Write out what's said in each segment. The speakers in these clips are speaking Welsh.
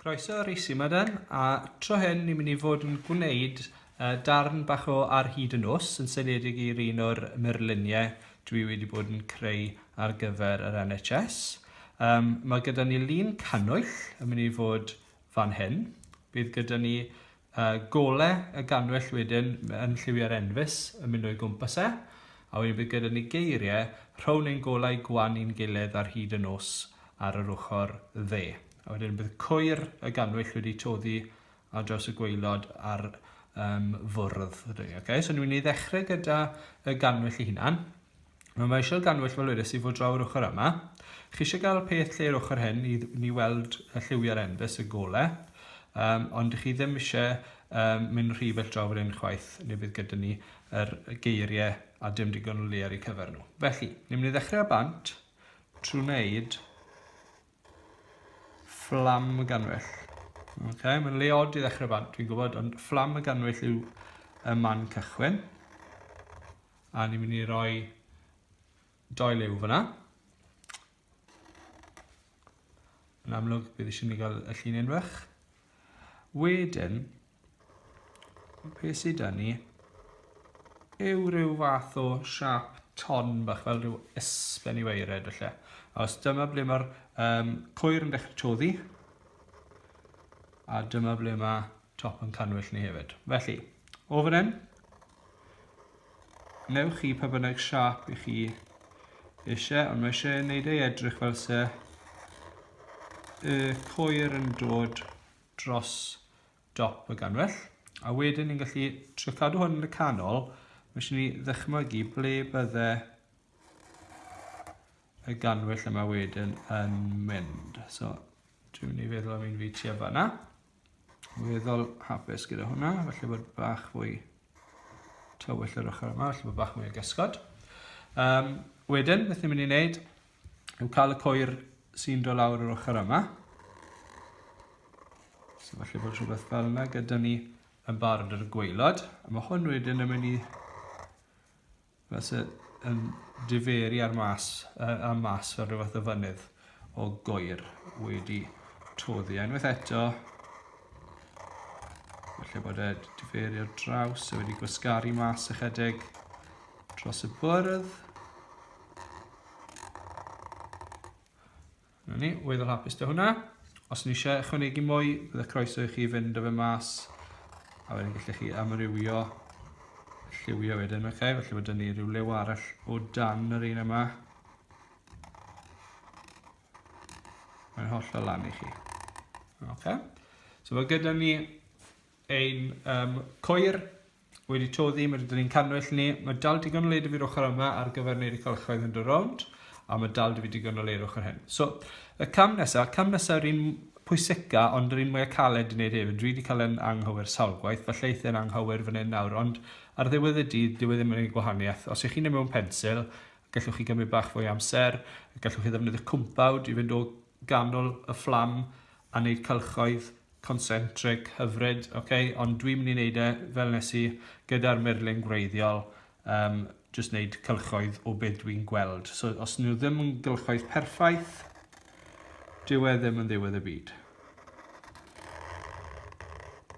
Croeso ar i Simadan, a tro hyn ni'n mynd i fod yn gwneud uh, darn bach o ar hyd y nos yn seiliedig i'r un o'r myrluniau dwi wedi bod yn creu ar gyfer yr NHS. Um, mae gyda ni lun cannwyll yn mynd i fod fan hyn. Bydd gyda ni uh, gole y ganwyll wedyn yn lliwiau'r enfys yn mynd o'i gwmpas e, a wedyn bydd gyda ni geiriau rhown ein golau gwan i'n gilydd ar hyd y nos ar yr ochr dde. A wedyn bydd cwyr y ganwyll wedi toddi ar draws y gweilod ar um, fwrdd. Okay? So ni'n mynd i ddechrau gyda y ganwyll i hunan. Mae mae eisiau gannwyll fel wedes i fod draw yr ochr yma. Chi eisiau gael peth lle yr ochr hyn i ni weld y lliwiau'r enfys y gole. Um, ond chi ddim eisiau um, mynd rhy bell draw fan hyn chwaith, neu bydd gyda ni yr geiriau a dim digon o le ar eu cyfer nhw. Felly, ni'n mynd i ddechrau â bant trwy wneud Fflam y ganwyll. Ok, mae'n le od i ddechrau bant, dwi'n gwybod, ond fflam y ganwyll yw y man cychwyn. A ni'n mynd i roi doi lew fyna. Yn amlwg, bydd eisiau ni gael y llun unfach. Wedyn, Be sydd da ni? Yw rhyw fath o siap ton bach fel rhyw ysben i weired felly. Os dyma ble mae'r um, cwyr yn dechrau toddi. A dyma ble mae top yn canwyll ni hefyd. Felly, o fan hyn, newch chi pa bynnag siap i chi eisiau, ond mae eisiau gwneud ei edrych fel se y coer yn dod dros dop y ganwyll a wedyn ni'n gallu trio cadw hwn yn y canol mae eisiau ni ddychmygu ble bydde y ganwyll yma wedyn yn mynd so dwi'n mynd i feddwl am un fi tua fanna weddol hapus gyda hwnna felly bod bach fwy tywyll yr ochr yma felly bod bach mwy o gysgod um, wedyn beth ni'n mynd i wneud yn cael y coer sy'n dod lawr yr ochr yma. So falle bod rhywbeth fel yna gyda ni yn barod ar y gweilod. A mae hwn wedyn yn mynd i falle yn diferu ar mas, uh, ar mas fel rhyw fath o fynydd o goer wedi toddi. Unwaith eto, falle bod e diferu ar draws a wedi gwasgaru mas ychydig dros y bwrdd. Na ni, weddol hapus dy hwnna. Os ni eisiau ychwanegu mwy, bydd y croeso i chi fynd o fe mas a wedyn gallech chi amrywio lliwio wedyn, oce? Okay? Felly mae dyn ni rhyw lew arall o dan yr un yma. Mae'n holl o lan i chi. Oce? Okay? So mae gyda ni ein um, coer wedi toddi, mae rydyn ni'n cannwyll ni. Mae dal digon o le dyfu'r ochr yma ar gyfer wneud y cylchoedd yn dy rownd, a mae dal dyfu digon o le i'r ochr hyn. So, y cam nesaf, cam nesaf yr un pwyseca, ond yr un mwyaf caled i wneud hefyd. Dwi wedi cael yn anghywir sawl gwaith, falle eithaf yn anghywir fan hyn nawr, ond ar ddiwedd y dydd, dyw e ddim yn ei gwahaniaeth. Os ych chi'n ei mewn pensil, gallwch chi gymryd bach fwy amser, gallwch chi ddefnyddio cwmpawd i fynd o ganol y fflam a wneud cylchoedd concentric hyfryd, ok? Ond dwi'n mynd i wneud e fel nes i gyda'r murlun gwreiddiol, um, jyst wneud cylchoedd o beth dwi'n gweld. So os nhw ddim yn gylchoedd perffaith, dyw e ddim yn ddiwedd y byd.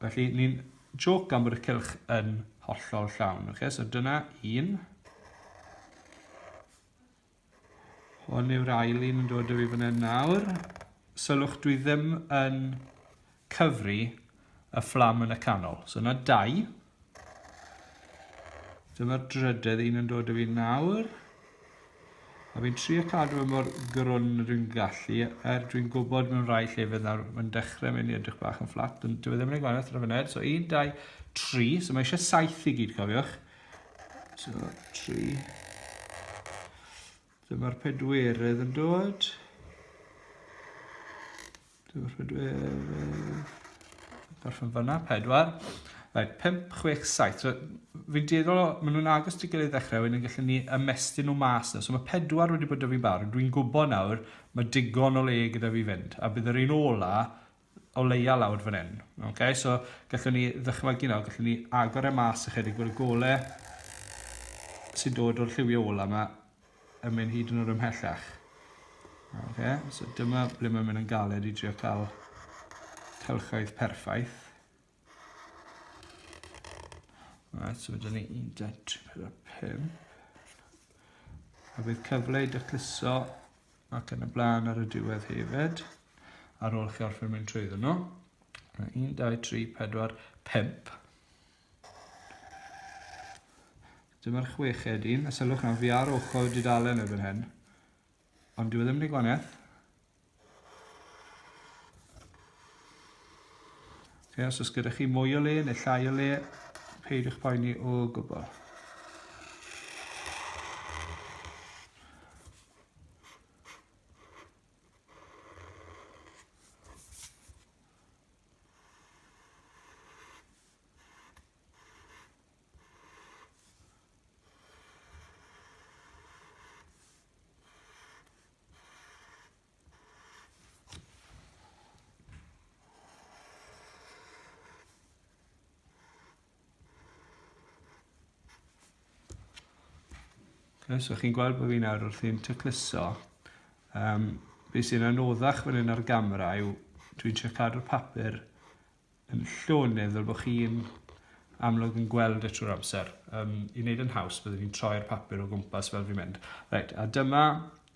Felly ni'n joc gan bod y cylch yn hollol llawn. Okay? So dyna un. Hwn yw'r ail un yn dod o fi fan hyn nawr. Sylwch, dwi ddim yn cyfri y fflam yn y canol. So yna dau. Dyma'r drydedd un yn dod o fi nawr. A fi'n trio cadw e mor grwn y dwi'n gallu, er dwi'n gwybod mewn rhai llefydd nawr, mae'n dechrau mynd i edrych bach yn fflat, ond dwi e ddim yn ei gwanaeth ar y funud. So 1, 2, 3, so mae eisiau 7 i gyd, cofiwch. So, tri. Dyma'r pedwerydd yn dod. Dyma'r pedwerydd. Gorffen fyna, pedwar. Right, 5, 6, 7. So, fi'n dueddol o, maen nhw'n agos ti gilydd ddechrau, wedyn gallen ni ymestyn nhw mas na. So mae pedwar wedi bod da fi'n barod. Dwi'n gwybod nawr, mae digon o le gyda fi fynd. A bydd yr un ola o leia lawr fan hyn. Ok, so gallwn ni ddychmygu nawr, gallwn ni agor e mas ychydig bod y gole sy'n dod o'r lliwio ola yma yn mynd hyd yn o'r ymhellach. Ok, so dyma ble mae'n mynd yn galed i drio cael cylchoedd perffaith. Right, so dyna ni 1.345. A bydd cyfle i dycluso ac yn y blaen ar y diwedd hefyd, ar ôl chi orffen mynd trwy nhw. 1, 2, 3, 4, 5. Dyma'r chweched un, a sylwch nawr fi ar ochr dudalen erbyn hyn. Ond dyw e ddim yn ei gwaniaeth. Okay, os oes gyda chi mwy o le neu llai o le, peidiwch poeni o gwbl. Okay, so chi'n gweld bod fi'n nawr wrthi'n tecluso. Um, be sy'n anoddach fan hyn ar gamera yw dwi'n trio cadw'r papur yn llonydd fel bod chi'n amlwg yn gweld e trwy'r amser. Um, I wneud yn haws, byddwn ni'n troi'r papur o gwmpas fel fi'n mynd. Right, a dyma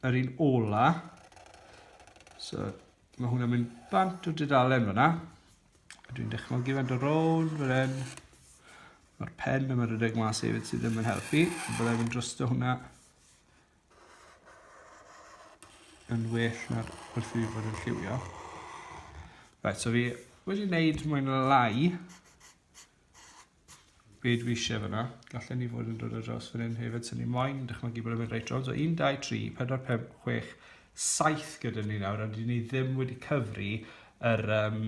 yr un ola. So, mae hwnna'n mynd bant o dudalen fyna. Dwi'n dychmygu fan do rown fel hyn. Mae'r pen yma rhedeg mas hefyd sydd ddim yn helpu. Byddai'n mynd drosto hwnna. yn well na'r wrth fi fod yn lliwio. Right, so fi wedi wneud mwyn lai be dwi eisiau fyna. Gallen ni fod yn dod ar draws fan hyn hefyd, sy'n ni moyn dychmygu bod yn mynd reit rownd. So 1, 2, 3, 4, 5, 6, 7 gyda ni nawr, ond ni ddim wedi cyfri yr, um,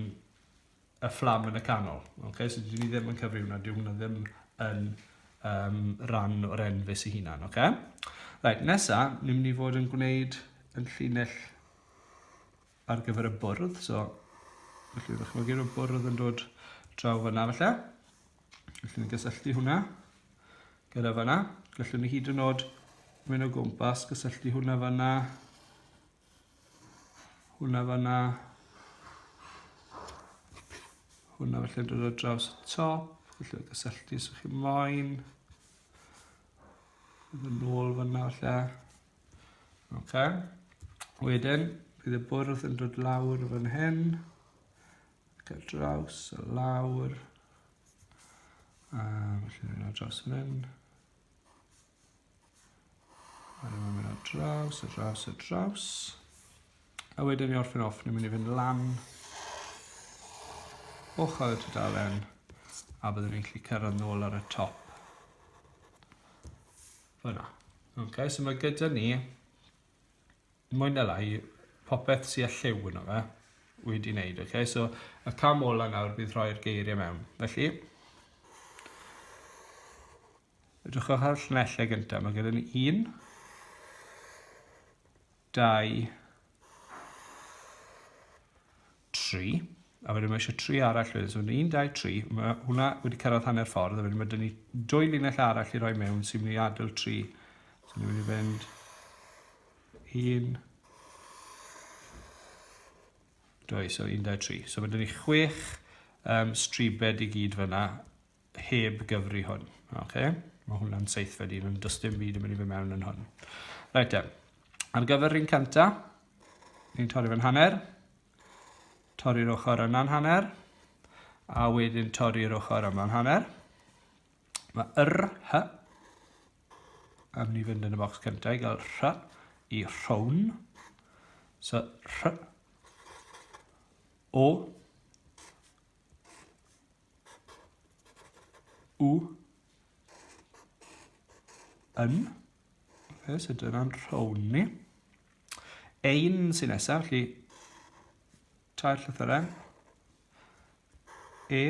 y fflam yn y canol. Okay? So dwi ddim yn cyfri hwnna, dwi hwnna ddim yn um, ran o'r enfus i hunan. Okay? Right, nesa, ni'n mynd i fod yn gwneud yn llinell ar gyfer y bwrdd. So, felly, ydych chi'n gwneud y bwrdd yn dod draw fyna, felly. Felly, ni'n gysylltu hwnna gyda fyna. Gallwn ni hyd yn oed mynd o gwmpas, gysylltu hwnna fyna, Hwna fanna. Hwna felly dod o draws y top. Felly gysylltu os ydych chi moyn. Bydd yn ôl fanna felly. Ok. Wedyn, bydd y bwrdd yn dod lawr fan hyn. Ac ar draws a lawr. A felly dod o draws fan hyn. Wedyn mae'n mynd ar draws, ar draws, ar draws. A wedyn ni orffen off, ni'n mynd i fynd lan ochr y tudalen a byddwn ni'n gallu cyrraedd nôl ar y top. Fyna. Okay, so mae gyda ni mwy na lai popeth sy'n lliw yno fe wedi wneud. Okay? So y cam ola nawr bydd rhoi'r geiriau mewn. Felly, Edrychwch ar y llinellau gyntaf. Mae gyda ni un, dau, tri. A wedyn mae eisiau tri arall wedyn. So un, dau, tri. Mae hwnna wedi cyrraedd hanner ffordd. A wedyn mae dyn ni dwy linell arall i roi mewn sy'n mynd i adael tri. So ni'n mynd i fynd un, dwy, so un, dau, tri. So mae dyn ni chwech um, stribed i gyd fyna heb gyfri hwn. Okay? Mae hwnna'n seithfed un, ond does dim byd yn mynd i fy mewn yn hwn. Rhaid te. Ar gyfer rhywun cynta, ni'n torri fe'n hanner, torri'r ochr yna'n hanner, a wedyn torri'r ochr yma'n hanner. Mae yr, hy, a mynd i fynd yn y bocs cyntaf i gael rhy i rhown. So, rhy, o, U. Yn. Fe sydd dyna'n rhown ni. Ein sy'n nesaf, felly tair llythyren. E.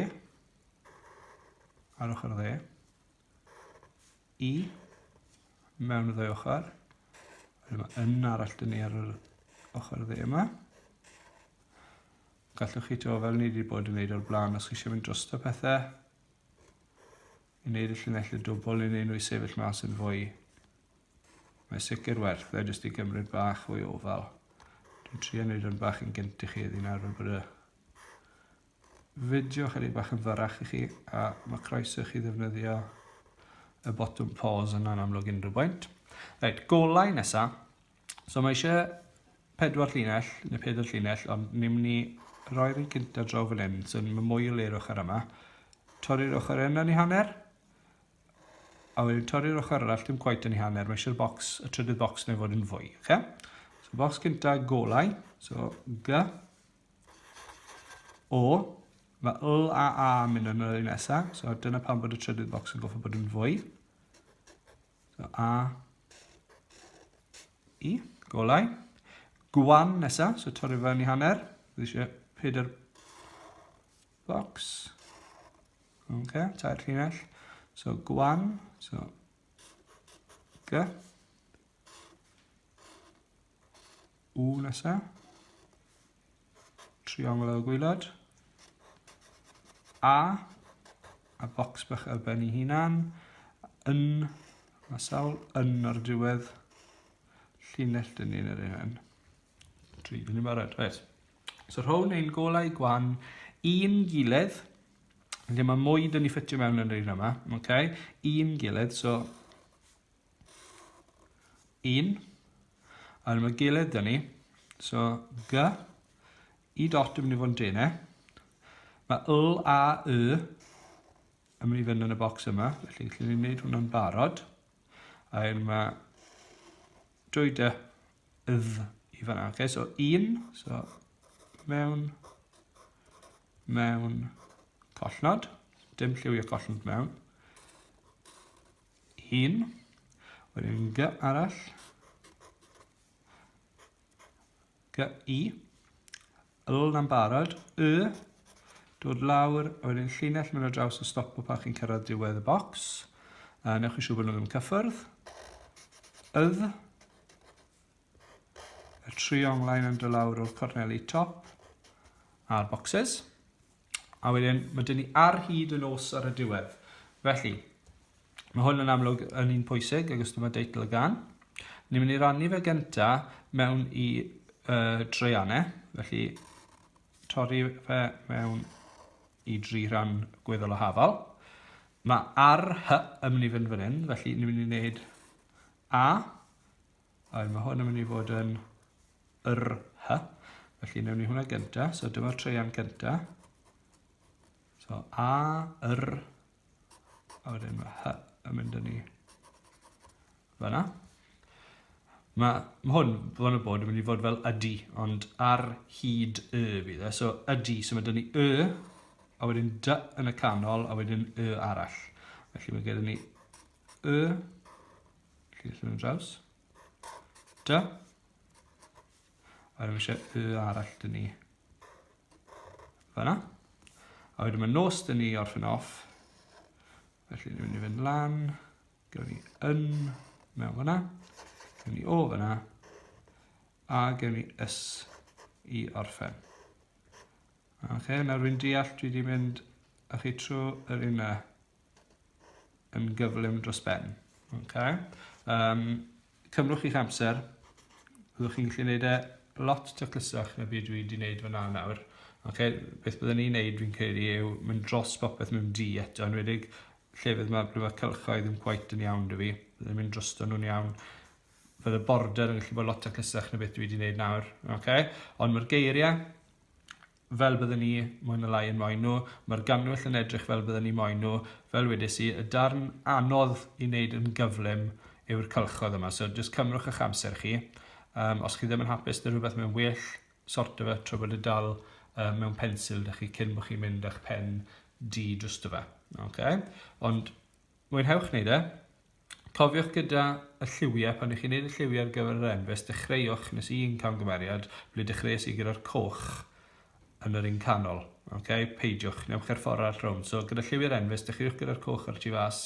Ar ochr dde. i mewn y ddau ochr. Wedyn mae yn arall dyn ni ar yr ochr dde yma. Gallwch chi to fel ni wedi bod yn gwneud o'r blaen os chi eisiau mynd dros y pethau. I wneud y llinellau dwbl i wneud nhw i sefyll mas yn fwy. Mae sicr werth e jyst i gymryd bach o'i ofal. Dwi'n trio wneud yn bach yn gynt i chi ddyn nawr fel bod y fideo chydig bach yn fyrrach i chi a mae croeso i chi ddefnyddio y botwm pause yna'n amlwg unrhyw bwynt. Reit, golau nesa. So mae eisiau pedwar llinell, neu pedwar llinell, ond ni'n mynd i roi'r un cynta draw fan hyn, so mae mwy o le'r ochr yma. Torri'r ochr yna ni hanner, a wedyn torri'r ochr arall, dim quite yn ei hanner, mae eisiau'r box, y trydydd box neu fod yn fwy, okay? So box cynta golau, so G, O, mae L a A yn mynd yn yr un nesaf, so dyna pam bod y trydydd bocs yn goffa bod yn fwy. So A, I, golau. Gwan nesaf, so torri fe yn i hanner. Bydd eisiau pedair bocs. Ok, tair llinell. So gwan, so G. U nesa. Triongl o gwylod. A. A bocs bach ar ben ei hunan. Yn. Mae sawl yn ar y diwedd. Llinell dyn ni'n yr un. Tri, dyn ni'n barod. Right. So rhown ein golau gwan un gilydd. Felly mae mwy dyn ni ffitio mewn yn yr un yma. Okay? Un gilydd. So 1 ar yma gilydd dyn ni. So, G, i dot yn mynd i fod yn dene. Mae L a Y yn mynd i fynd yn y bocs yma, felly lle ni'n gwneud hwnna'n barod. A hyn mae dwy dy ydd i fanna. Okay, so un, so mewn, mewn, collnod. Dim lliwio collnod mewn. Un. Wedyn gy arall. Gy i. Yl na'n barod. Y. Dod lawr. A wedyn llinell mynd ar draws y stop o pan chi'n cyrraedd diwedd y bocs. A newch chi siw bod nhw ddim yn cyffyrdd. Ydd. Y tri onglaen yn dod lawr o'r corneli top a'r boxes. A wedyn, mae dyn ni ar hyd y nos ar y diwedd. Felly, mae hwn yn amlwg yn un pwysig, ac os dyma deitl y gan. Ni'n mynd i rannu fe gynta mewn i uh, dreianau, felly torri fe mewn i dri rhan gweddol o hafal. Mae ar hy yn mynd i fynd fan hyn, felly ni'n mynd i wneud A, Ai, mae hwn yn mynd i fod yn yr hy. Felly, newn ni hwnna gynta. So, dyma'r treian cynta. So, a, yr, a wedyn mae hy yn mynd yn ni. Fyna. Mae ma hwn, hwn y bod, yn mynd i fod fel ydy, ond ar hyd y fydd e. So ydy, so mae dyn ni y, a wedyn dy yn y canol, a wedyn y arall. Felly mae gyda ni Y. Felly allan yn draws. Da. A rwy'n eisiau y arall dyn ni. Fyna. A wedyn mae nos dyn ni orffen off. Felly ni'n mynd i fynd lan. Gyda ni yn mewn fyna. Gyda ni o fyna. A gyda ni ys i orffen. Oce, okay, nawr rwy'n deall dwi wedi mynd a chi trwy yr un yn gyflym dros ben. Okay. Um, cymrwch chi'ch amser, byddwch chi'n gallu gwneud e lot taclusach na byd dwi wedi gwneud fyna nawr. Okay, beth byddwn ni'n gwneud fi'n credu yw mynd dros popeth mewn di eto, yn wedig llefydd mae blwyfa cylchoedd yn gwaith yn iawn dwi fi, byddwn mynd dros nhw'n iawn. Fydd y border yn gallu bod lot taclusach na beth dwi wedi gwneud nawr. Okay? Ond mae'r geiriau fel bydden ni, mwy na lai, yn moyn nhw. Mae'r gannwyll yn edrych fel bydden ni moyn nhw. Fel wedes i, y darn anodd i wneud yn gyflym yw'r cylchoedd yma, so jyst cymrwch eich amser chi. Um, os chi ddim yn hapus dy rhywbeth mewn well, sorto fe trwy bod y dal uh, mewn pensil da chi cyn bod chi'n mynd â'ch pen di dros dy fe. Okay? Ond Mwynhewch wneud e! Cofiwch gyda y lliwiau, pan i chi'n wneud y lliwiau ar gyfer yr enfys, dechreuwch, nes i un camgymeriad, ble dechreuais i gyda'r coch yn yr un canol. Okay? Peidiwch, newch i'r ffordd arall rownd. So, gyda lliwiau'r enfys, dechreuwch gyda'r coch ar y tu fas,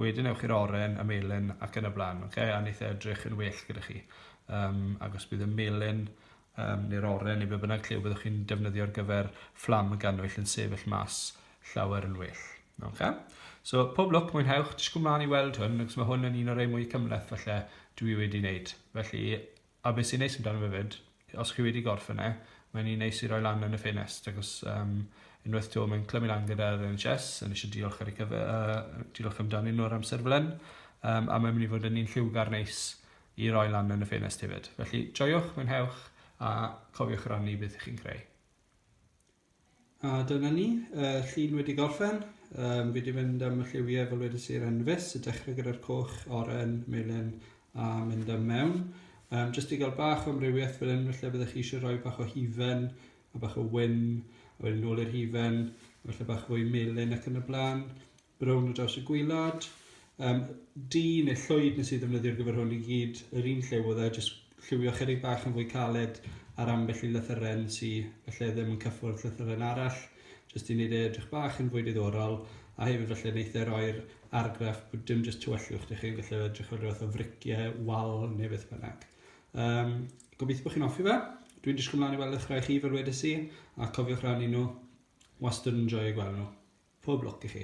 wedyn ewch i'r oren, y melyn ac yn y blaen. Okay? A wneith e edrych yn well gyda chi. Um, agos bydd y melyn um, neu'r oren neu be bynnag lle byddwch chi'n defnyddio ar gyfer fflam y gannwyll yn sefyll mas llawer yn well. Okay? So, pob lwc, mwynhewch, disgwyl mlaen i weld hwn, ac mae hwn yn un o'r ei mwy cymleth falle dwi wedi wneud. Felly, a beth sy'n neis amdano fe fyd, os chi wedi gorffen e, mae'n un neis i roi lan yn y ffenest, ac os um, unwaith to mae'n clymu lan gyda'r NHS, yn eisiau diolch ar y cyfer, uh, diolch amdanyn nhw ar amser fel hyn, um, a mae'n mynd i fod yn un lliwgar neis i roi lan yn y ffenest hefyd. Felly joiwch, mwynhewch a cofiwch rannu beth ych chi'n creu. A dyna ni, y llun wedi gorffen. Um, fi wedi mynd am y lliwiau fel wedi sy'r enfus, y dechrau gyda'r coch, oren, melyn a mynd am mewn. Um, jyst i gael bach o amrywiaeth fel hyn, felly byddwch chi eisiau rhoi bach o hufen, a bach o wyn, a wedyn nôl i'r hufen, felly bach fwy melyn ac yn y blaen. Brown ar draws y gwylod. Um, du neu llwyd nes i ddefnyddio'r gyfer hwn i gyd yr un lliw oedd e, jyst lliwio chyrig bach yn fwy caled ar ambell i lythyren sy'n felly ddim yn cyffwrdd llythyren arall, jyst i wneud e edrych bach yn fwy diddorol, a hefyd felly wneud e roi'r argraff bod dim jyst tywyllwch dych chi'n gallu edrych fel rhywbeth o friciau, wal neu beth bynnag. Um, gobeithio bod chi'n offi fe. Dwi'n disgwyl mlaen i weld eich rhai chi fel wedi si, a cofiwch rannu nhw Wastad yn joio gweld nhw. Pob lwc i chi.